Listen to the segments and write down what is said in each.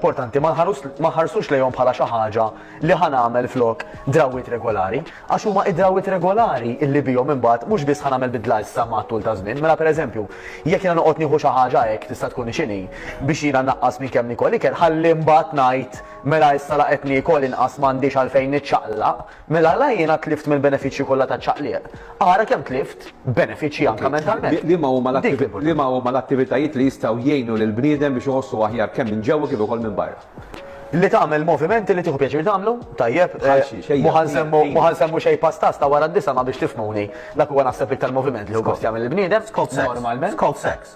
importanti ma nħarsux lejhom bħala xi ħaġa li ħa nagħmel flok drawwiet regolari, għax huma id-drawwiet regolari illi bihom imbagħad mhux biss ħa nagħmel bidla issa mat-tul ta' żmien. Mela pereżempju, jekk jiena noqgħod nieħu xi ħaġa hekk tista' tkun x'inhi biex jiena naqqas minn kemm nikol ikel, ħalli mbagħad ngħid mela issa la qed niekol inqas m'għandix għalfejn niċċaqlaq, Mela la jiena tlift mill-benefiċċji kollha taċ-ċaqliq. Ara kemm tlift benefiċċji anke mentalment. Liema huma l-attivitajiet li jistgħu jgħinu lill-bniedem biex iħossu aħjar kemm minn ġewwa kif ukoll minn barra? Li tagħmel movimenti li tieħu pjaċir tagħmlu, tajjeb. Mhu ħa nsemmu xejn pastas ta' wara d-disa' ma biex tifhmuni. Dak huwa naħseb l-iktar moviment li hu gost jagħmel il-bniedem, normalment. Skop sex.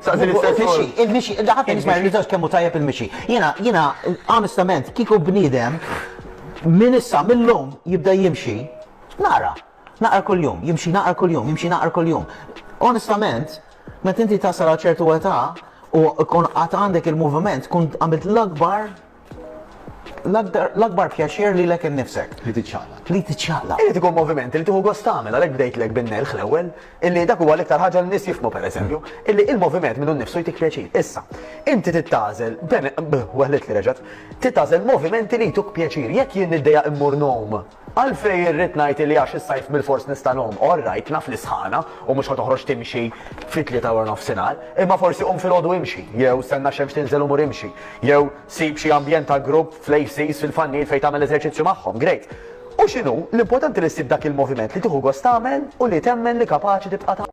Staqsi l-istess ħaġa. Il-mixi, il-mixi, ħadd ma jisma' jirriżax kemm hu tajjeb il-mixi. Jiena, jiena, onestament, kieku bniedem minn issa, mill-lum jibda jimxi, naqra. Naqra kuljum, jimxi naqra kuljum, jimxi naqra kuljum. Onestament, meta inti tasal għal ċertu età u kun qatt għandek il-moviment, kun għamilt l-akbar L-akbar pjaċir lilek innifsek. Li tiċċaqlaq. Li tiċċaqlaq. Irid ikun moviment li tieħu gost tagħmel, għalhekk bdejtlek bin-nelħ l-ewwel, illi dak huwa l-iktar ħaġa li n-nies jifhmu pereżempju, illi l-moviment minnu nnifsu jtik pjaċir. Issa, inti trid tagħżel, bene, bh, weħlitli reġgħet, trid tagħżel movimenti li jtuk pjaċir. Jekk jien niddejjaq immur ngħum, Għalfejn irrid ngħid li għax is-sajf bilfors nista' ngħum? All right, naf li sħana u mhux ħa toħroġ timxi fit-tlieta waranofsinhar, imma forsi qum filgħodu imxi, jew stenna x-xemx tinżel u mur imxi, jew sib xi ambjent ta' grupp fl-ACs fil-Fannil fejn tagħmel eżerċizzju magħhom, great. U x'inhu, l-importanti li ssib dak il-moviment li tieħu gost tagħmel u li temmen li kapaċi tibqa' tagħmel.